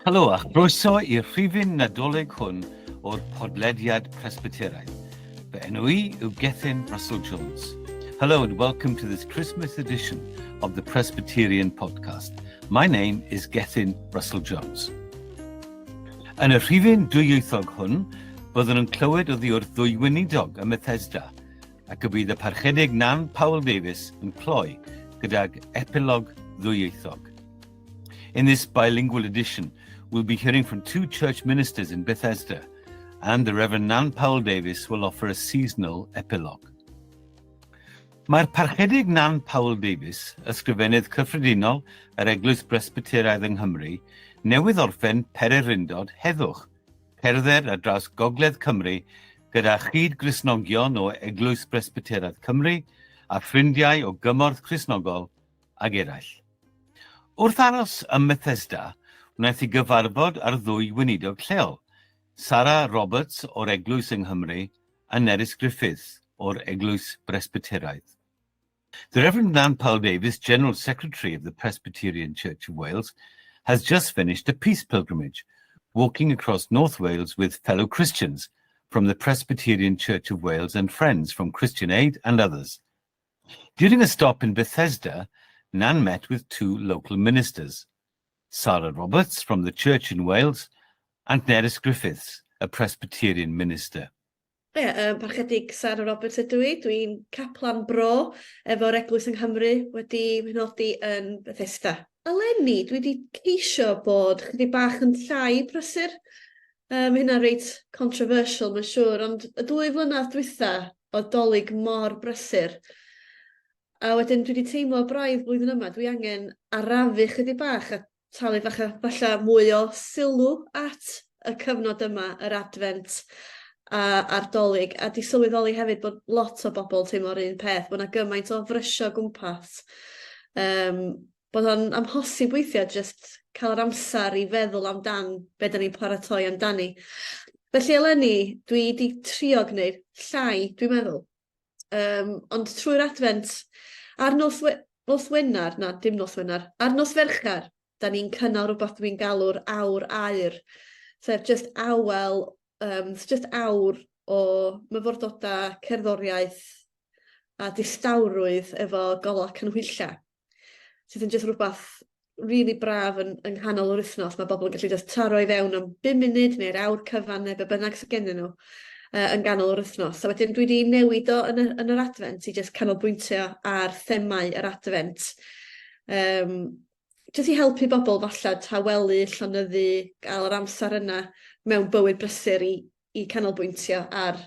Helo a chroeso i'r rhifyn Nadolig hwn o'r podlediad Presbyteraidd. Fy enw i yw Gethin Russell Jones. Hello and welcome to this Christmas edition of the Presbyterian podcast. My name is Gethin Russell Jones. Yn y rhifyn dwyieithog hwn, byddwn yn clywed o ddiwrth ddwy weinidog ym Methesda, ac y bydd y parchedig Nan Paul Davies yn cloi gydag epilog ddwyieithog. In this bilingual edition, we'll be hearing from two church ministers in Bethesda, and the Reverend Nan Powell Davies will offer a seasonal epilogue. Mae'r parchedig Nan Powell Davies, ysgrifennydd cyffredinol yr Eglwys Bresbyteraidd yng Nghymru, newydd orffen pererindod heddwch, cerdded ar draws Gogledd Cymru gyda chyd Grisnogion o Eglwys Bresbyteraidd Cymru a ffrindiau o gymorth Crisnogol ag eraill. Wrth aros ym Methesda, wnaeth i gyfarfod â'r ddwy weinidog lleol, Sara Roberts o'r Eglwys yng Nghymru a Nerys Griffiths o'r Eglwys Bresbyteraidd. The Reverend Nan Powell Davies, General Secretary of the Presbyterian Church of Wales, has just finished a peace pilgrimage, walking across North Wales with fellow Christians from the Presbyterian Church of Wales and friends from Christian Aid and others, During a stop in Bethesda, Nan met with two local ministers, Sarah Roberts from the church in Wales and Nerys Griffiths, a Presbyterian minister. Ie, um, parchedig Sarah Roberts ydw i. Dwi'n caplan bro efo'r eglwys yng Nghymru wedi nodi yn Bethesda. Eleni, dwi wedi ceisio bod chdi bach yn llai prysur Yy ma' hynna reit controversial ma'n siŵr ond y dwy flynadd dwytha o'dd Dolig mor brysur a wedyn dwi 'di teimlo braidd flwyddyn yma dwi angen arafu chydig bach a talu fach a falla mwy o sylw at y cyfnod yma yr Adfent a a'r Dolig a 'di sylweddoli hefyd bod lot o bobol teimlo'r un peth bo' 'na gymaint o frysio gwmpas yym bod o'n amhosib weithiau jyst cael yr amser i feddwl amdan be dan ni'n paratoi amdani. Felly eleni, dwi wedi trio gwneud llai, dwi'n meddwl. Um, ond trwy'r adfent, ar nos, we, nos Wener, na, dim nos Wener, ar nos Fercher, da ni'n cynnal rhywbeth dwi'n galw'r awr aur, sef just awel, um, just awr o myfyrdodau, cerddoriaeth a distawrwydd efo golau cynhwyllau. sydd yn jyst rhywbeth rili braf yn yng nghanol yr wythnos mae bobl yn gallu jyst taro i fewn am bum munud neu'r awr cyfan neu be' bynnag sydd gennyn nhw yy yn ganol yr wythnos a wedyn dwi 'di newid o yn y yn yr adfent i jyst canolbwyntio ar themâu yr adfent yym jyst i helpu bobl falle tawelu llonyddu ga'l yr amser yna mewn bywyd brysur i i canolbwyntio ar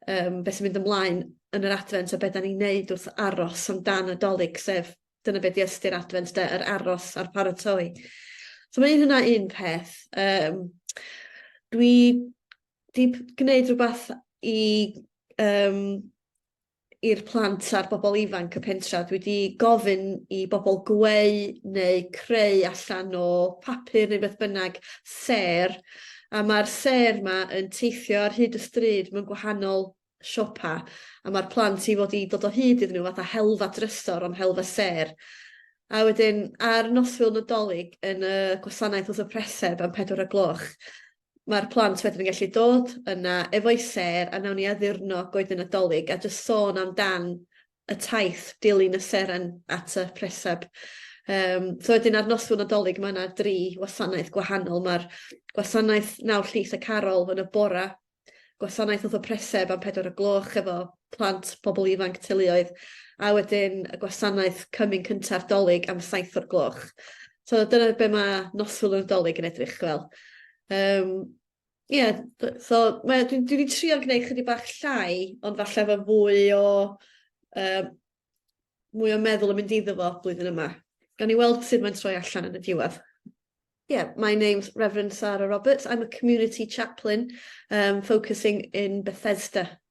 yym be' sy'n mynd ymlaen yn yr Adfent a be' 'dan ni'n neud wrth aros am dan y 'Dolig sef dyna be' 'di ystyr Adfent 'de yr aros a'r paratoi. So ma' un hwnna un peth yym dwi 'di p- gneud rwbath i yym i'r plant a'r bobl ifanc y pentra. Dwi wedi gofyn i bobl gweu neu creu allan o papur neu beth bynnag sêr, a mae'r sêr 'ma yn teithio ar hyd y stryd mewn gwahanol siopa, a mae'r plant i fod i dod o hyd iddyn nhw fatha helfa drysor ond helfa sêr. A wedyn ar noswyl Nadolig yn y gwasanaeth wrth y preseb am pedwar o'r gloch ma'r plant wedyn yn gallu dod yna efo'i sêr a nawn ni addurno goeden Nadolig a jyst sôn am dan y taith dilyn y seren at y presab. Yym so wedyn ar noswyl Nadolig ma' 'na dri wasanaeth gwahanol ma'r gwasanaeth Nawr Llys y Carol yn y bora, gwasanaeth wrth y preseb am pedwar o gloch efo plant, pobl ifanc, teuluoedd a wedyn y gwasanaeth Cymun Cynta'r Dolig am saith o'r gloch. So dyna be' ma' noswyl y Nadolig yn edrych fel. Yym ie d- so mae o dwi dwi 'di trio gneud chydig bach llai ond falle efo fwy o yym mwy o meddwl yn mynd iddo fo blwyddyn yma. Gawn ni weld sud mae'n troi allan yn y diwedd. Yeah my name's Reverend Sara Roberts I'm a community chaplain um focusing in Bethesda.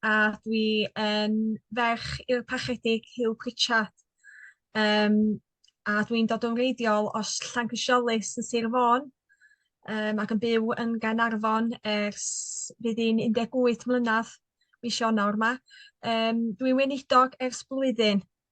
a dwi yn ferch i'r Parchedig Huw Pritchard yym a dwi'n dod yn wreiddiol o s- Llangrisiolys yn Sir Fôn yym ac yn byw yn Gaernarfon ers fydd hi'n 18 mlynadd mis Ionawr 'ma. Yym dwi weinidog ers blwyddyn.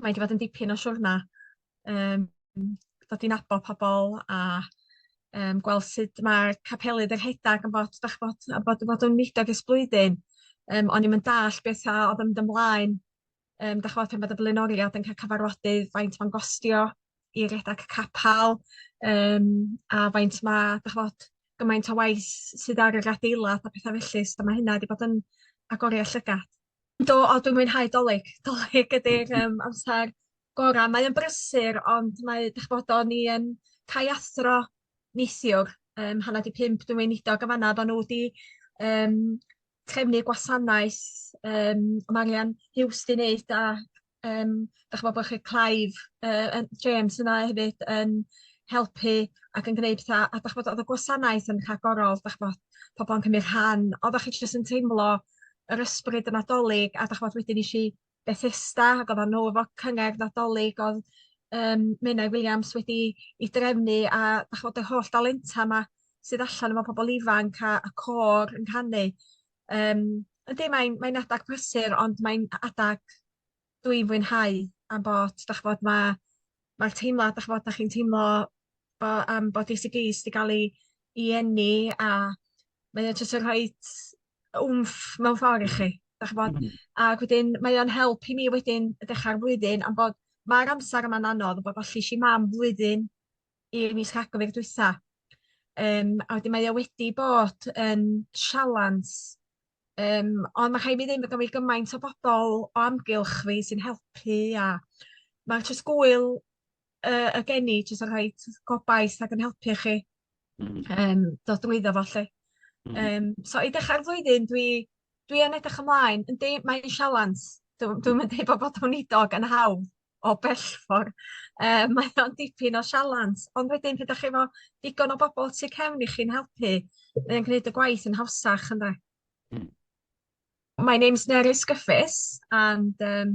mae wedi bod yn dipyn o siwrna yym dod i nabod pobol a yym gweld sut mae capelydd yn rhedag yn bod 'dach ch'bod a bod bod o'n mudiad ers blwyddyn yym o'n i'm yn dallt beth a o'dd yn mynd ymlaen yym 'dach ch'bod pan bod y blaenoriaeth yn ca'l cyfarfodydd faint ma'n gostio i redag capal yym a faint ma' 'dach ch'bod gymaint o waith sydd ar yr adeilad a petha felly so ma' hynna 'di bod yn agoriad llygad. Do, o dwi'n mwynhau 'Dolig. 'Dolig ydi'r yym amsar gora'. Mae o'n brysur ond mae 'dych ch'bod o'n i yn cae athro neithiwr yym hanner 'di pump dwi'n weinidog yn fan 'na oddan n'w 'di yym trefnu gwasanaeth yym o Marian Huws 'di neud a Yym dach ch'mo' bo' chi Clive yy yn James yna hefyd yn helpu ac yn gneud petha a dach ch'mod o'dd y gwasanaeth yn rhagorol dach ch'mod pobol yn cymryd rhan oddach chi jyst yn teimlo yr ysbryd y Nadolig a dach ch'mod wedyn esh i Bethesda ag oddan n'w efo cyngerdd Nadolig o'dd yym Menai Williams wedi 'i drefnu a dach ch'mod yr holl dalenta 'ma sydd allan efo pobol ifanc a y côr yn canu Yym yndi mae'n mae'n adag prysur ond mae'n a- adag dwi'n fwynhau am bod 'dach ch'bod ma' ma'r teimlad 'dach ch'bod 'dach chi'n teimlo bo' yym bod dy si dîs 'di ga'l 'i 'i eni a mae o jys yn rhoid wmff mewn ffor i chi 'dach ch'bod? Ag wedyn mae o'n help i mi wedyn y dechra'r flwyddyn am bod ma'r amser yma'n anodd a bo' gollish i mam flwyddyn i mis Rhagfyr dwytha. Yym a wedyn mae o wedi bod yn sialans yym ond ma' rhai' mi ddeud ma' gynno fi gymaint o bobol o amgylch fi sy'n helpu a ma' jyst gŵyl yy y geni jyst yn rhoid gobaith ac yn helpu chi. Hmm. Yym dod drwyddo fo 'lly. Hmm. Yym so i ddechra'r flwyddyn dwi Dwi yn edrych ymlaen. Yndi mae 'i'n sialens. Dw- dwi'm yn deud bo' bod yn weinidog yn hawdd o bellffor yym mae o'n dipyn o sialens ond wedyn pryd 'dach chi efo digon o bobol tu cefn i chi'n helpu mae o'n gneud y gwaith yn hawsach ynde? Hmm. My name's Nerys Gyffes and um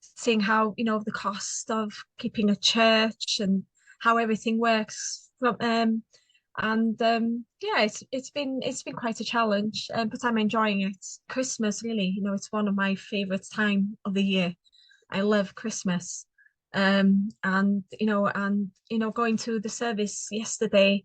seeing how you know the cost of keeping a church and how everything works from um and um yeah it's it's been it's been quite a challenge um, but I'm enjoying it Christmas really you know it's one of my favorite time of the year I love Christmas um and you know and you know going to the service yesterday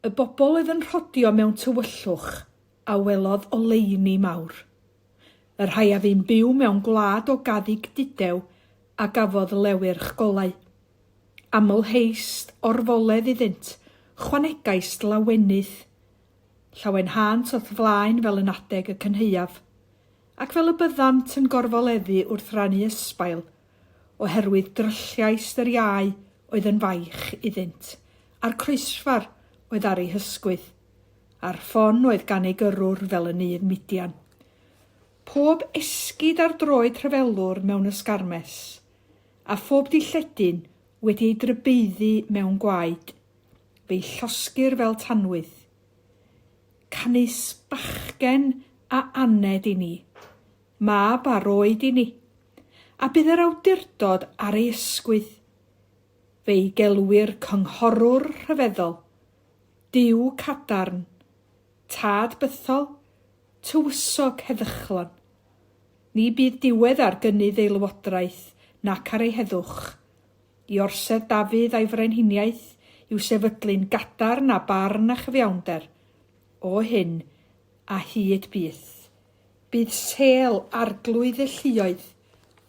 Y bobl oedd yn rhodio mewn tywyllwch a welodd oleuni mawr. Y rhai a fu'n byw mewn gwlad o gaddug dudew a gafodd lewyrch golau. Amlheist orfoledd iddynt, chwanegaist lawenydd. Llawenhânt o'th flaen fel yn adeg y cynhaeaf. Ac fel y byddant yn gorfoleddu wrth rannu ysbail oherwydd drylliaist yr iau oedd yn faich iddynt, a'r croesfar oedd ar ei hysgwydd, a'r ffon oedd gan ei gyrrwr fel y nydd Midian. Pob esgid ar droed rhyfelwr mewn ysgarmes, a phob dilledyn wedi ei drybeiddu mewn gwaed, fe'i llosgir fel tanwydd. Canys bachgen a aned i ni, mab a roed i ni, a bydd yr awdurdod ar ei ysgwydd. Fe'i gelwir Cynghorwr Rhyfeddol, Duw Cadarn, Tad Bythol, Tywysog Heddychlon. Ni bydd diwedd ar gynnydd ei lywodraeth nac ar ei heddwch. I orsedd Dafydd a'i frenhiniaeth i'w sefydlu'n gadarn a barn a chyfiawnder, o hyn a hyd byth. Bydd Sale Arglwydd y Lluoedd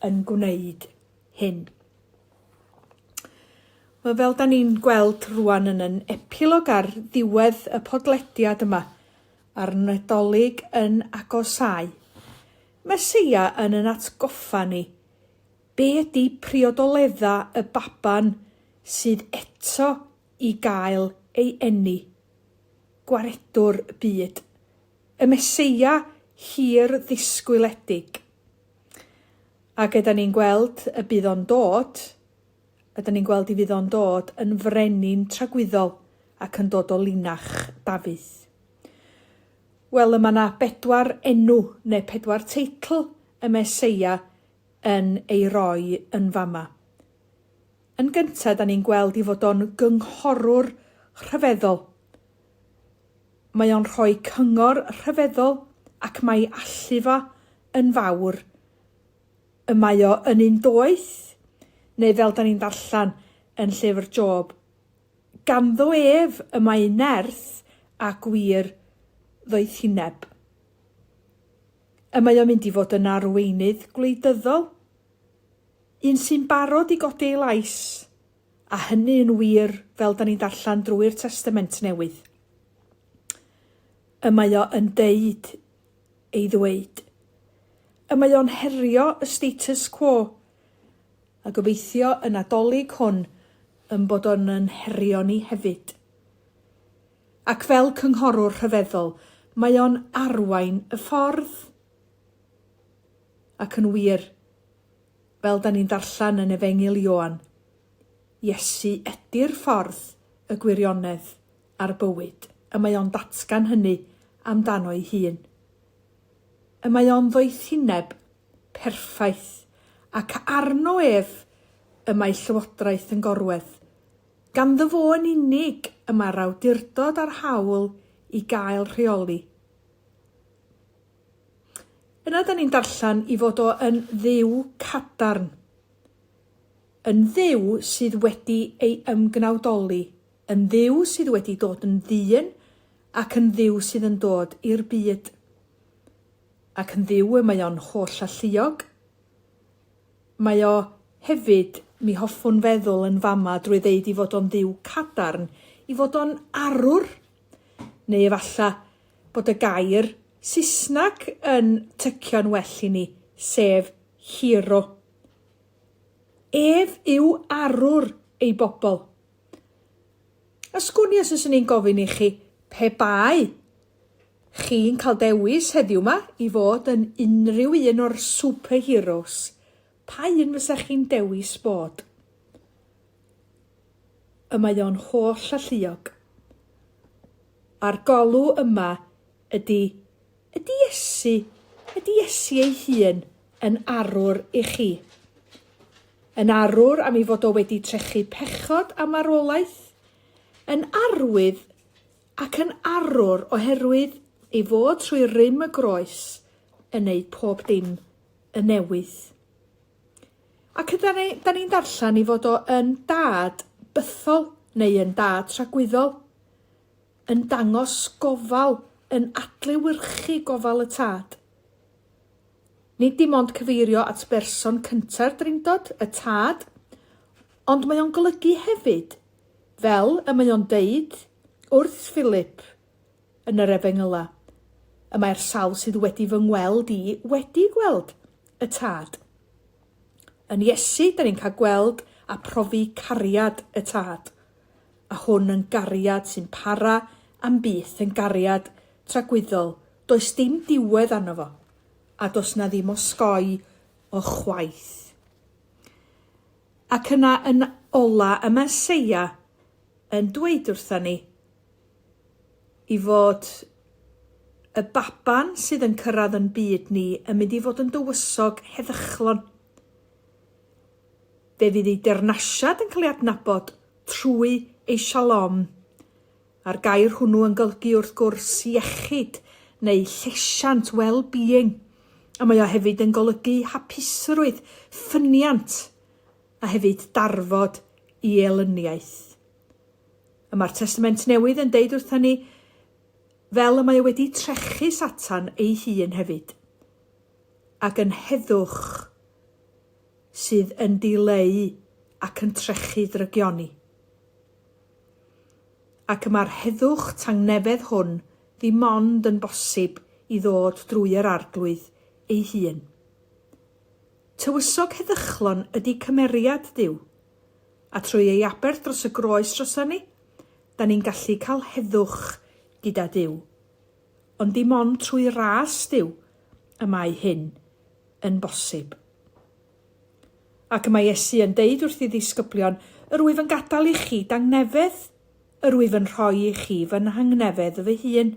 yn gwneud hyn. Wel, fel da ni'n gweld rwan yn yn epilog ar ddiwedd y podlediad yma, a'r Nadolig yn agosau, Meseia yn yn atgoffa ni be ydy priodoledda y baban sydd eto i gael ei eni, gwaredwr byd. Y Meseia hir ddisgwyledig. Ac ydan ni'n gweld y bydd o'n dod, ydan ni'n gweld i fydd o'n dod yn frenin tragwyddol ac yn dod o linach Dafydd. Wel, y mae yna bedwar enw neu pedwar teitl y Meseia yn ei roi yn fama. Yn gyntaf, ydan ni'n gweld i fod o'n gynghorwr rhyfeddol. Mae o'n rhoi cyngor rhyfeddol ac mae allu fo yn fawr. Y mae o yn un doeth, neu fel da ni'n darllen yn llyfr Job, Ganddo ef y mae nerth a gwir ddoethineb. Y mae o'n mynd i fod yn arweinydd gwleidyddol, un sy'n barod i godi ei lais. A hynny yn wir, fel 'dan ni'n darllen drwy'r Testament Newydd. Y mae o yn deud ei ddweud. Y mae o'n herio y status quo. A gobeithio y Nadolig hwn yn bod o'n yn herio ni hefyd. Ac fel cynghorwr rhyfeddol, mae o'n arwain y ffordd. Ac yn wir, Fel 'dan ni'n darllen yn Efengyl Ioan, Iesu ydi'r ffordd, y gwirionedd, a'r bywyd, y mae o'n datgan hynny amdano'i hun. Y mae o'n ddoethineb perffaith, ac arno ef y mae Llywodraeth yn gorwedd. Ganddo fo yn unig y mae'r awdurdod a'r hawl i gael rheoli. Yna da ni'n darllen i fod o yn dduw cadarn, yn dduw sydd wedi ei ymgnawdoli, yn dduw sydd wedi dod yn ddyn ac yn dduw sydd yn dod i'r byd. Ac yn dduw y mae o'n holl alluog, mae o hefyd, mi hoffwn feddwl yn fama drwy ddeud i fod o'n dduw cadarn, i fod o'n arwr, Neu efallai bod y gair Saesneg yn tycio'n well i ni, sef hero. Ef yw arwr ei bobl. A sgwn i os yswn i'n gofyn i chi, pe bai chi'n cael dewis heddiw ma i fod yn unrhyw un o'r superheroes, pa un fysa chi'n dewis bod? y mae o'n holl alluog. A'r golw yma ydy, ydy Iesu, ydy Iesu ei hun yn arwr i chi? Yn arwr am ei fod o wedi trechu pechod a marwolaeth? Yn arwydd ac yn arwr oherwydd ei fod trwy rym y groes yn neud pob dim yn newydd? Ac ydan ni, da ni'n darllen i fod o yn dad bythol neu yn dad tragwyddol, yn dangos gofal, yn adlewyrchu gofal y tad. Nid dim ond cyfeirio at berson cynta'r drindod, y tad, ond mae o'n golygu hefyd, fel y mae o'n deud wrth Philip, yn yr Efengylau. Y mae'r sawl sydd wedi fy ngweld i wedi gweld y Tad. Yn Iesu, da ni'n cael gweld a profi cariad y Tad. A hwn yn gariad sy'n para am byth, yn gariad tragwyddol, does dim diwedd arno fo, a does na ddim osgoi o chwaith. Ac yna yn ola y Meseia yn dweud wrtha ni, i fod y baban sydd yn cyrraedd yn byd ni yn mynd i fod yn dywysog heddychlon. Fe fydd ei deyrnasiad yn cael ei adnabod trwy ei shalom, a'r gair hwnnw yn golygu wrth gwrs iechyd neu llesiant, well-being, a mae o hefyd yn golygu hapusrwydd, ffyniant, a hefyd darfod i elyniaeth. Y mae'r Testament Newydd yn deud wrthon ni, fel y mae o wedi trechu Satan ei hun hefyd. Ac yn heddwch sydd yn dileu ac yn trechu ddrygion ni. Ac y mae'r heddwch tangnefedd hwn ddim ond yn bosib i ddod drwy yr Arglwydd ei hun. Tywysog heddychlon ydy cymeriad Duw. A trwy ei aberth dros y groes droson ni, 'dan ni'n gallu cael heddwch gyda Duw. Ond dim ond trwy ras Duw y mae hyn yn bosib. Ac y mae Iesu yn deud wrth ei ddisgyblion, Yr wyf yn gadael i chi dangnefedd, yr wyf yn rhoi i chi fy nhangnefedd fy hun.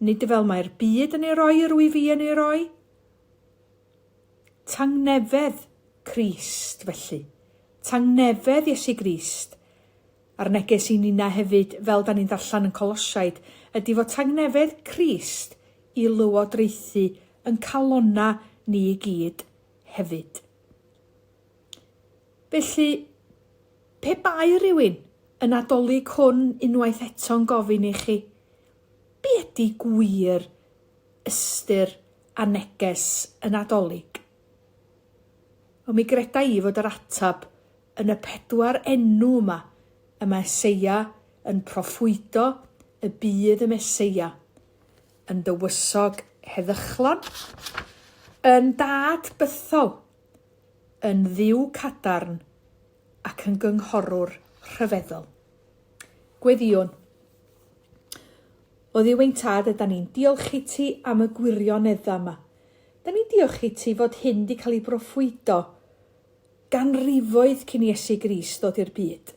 Nid fel mae'r byd yn ei roi yr wyf i yn ei roi. Tangnefedd Crist, felly. Tangnefedd Iesu Grist. A'r neges i ninna hefyd, fel 'dan ni'n darllen yn Colosiaid, ydi fod tangnefedd Crist i lywodraethu yn calonna ni i gyd hefyd. Felly, pe bai rhywun y Nadolig hwn unwaith eto'n gofyn i chi, Be ydi gwir ystyr a neges y Nadolig. Ond mi greda i fod yr ateb yn y pedwar enw yma, y Meseia yn proffwydo y bydd y Meseia yn dywysog heddychlon, yn Dad bythol, yn Dduw cadarn ac yn Gynghorwr rhyfeddol. Gweddïwn. O Dduw ein Tad ydan ni'n diolch i ti am y gwirionedda yma. Dan ni'n diolch i ti fod hyn di cael ei broffwydo ganrifoedd cyn i Iesu Grist ddod i'r byd.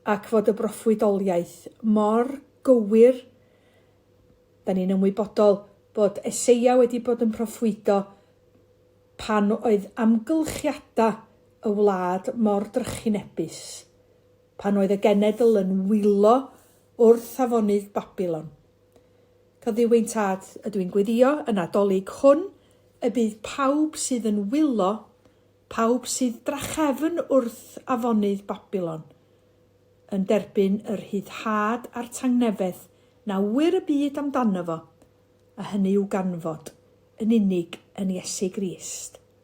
Ac fod y broffwydoliaeth mor gywir. Dan ni'n ymwybodol bod Eseia wedi bod yn proffwydo pan oedd amgylchiada y wlad mor drychinebus. Pan oedd y genedl yn wylo wrth afonydd Babilon. Cofiwyn Tad, ydw i'n gweddio, y Nadolig hwn, y bydd pawb sydd yn wylo, pawb sydd drachefn wrth afonydd Babilon, yn derbyn y rhyddhad a'r tangnefedd na ŵyr y byd amdano fo, a hynny yw ganfod yn unig yn Iesu Grist.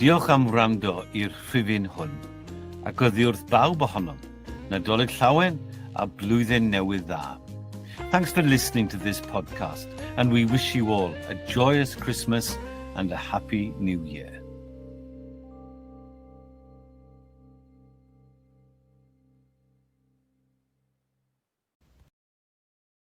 Diolch am wrando i'r rhifyn hwn, ac oddiwrth bawb ohonom, Nadolig Llawen a Blwyddyn Newydd Dda. Thanks for listening to this podcast and we wish you all a joyous Christmas and a happy new year.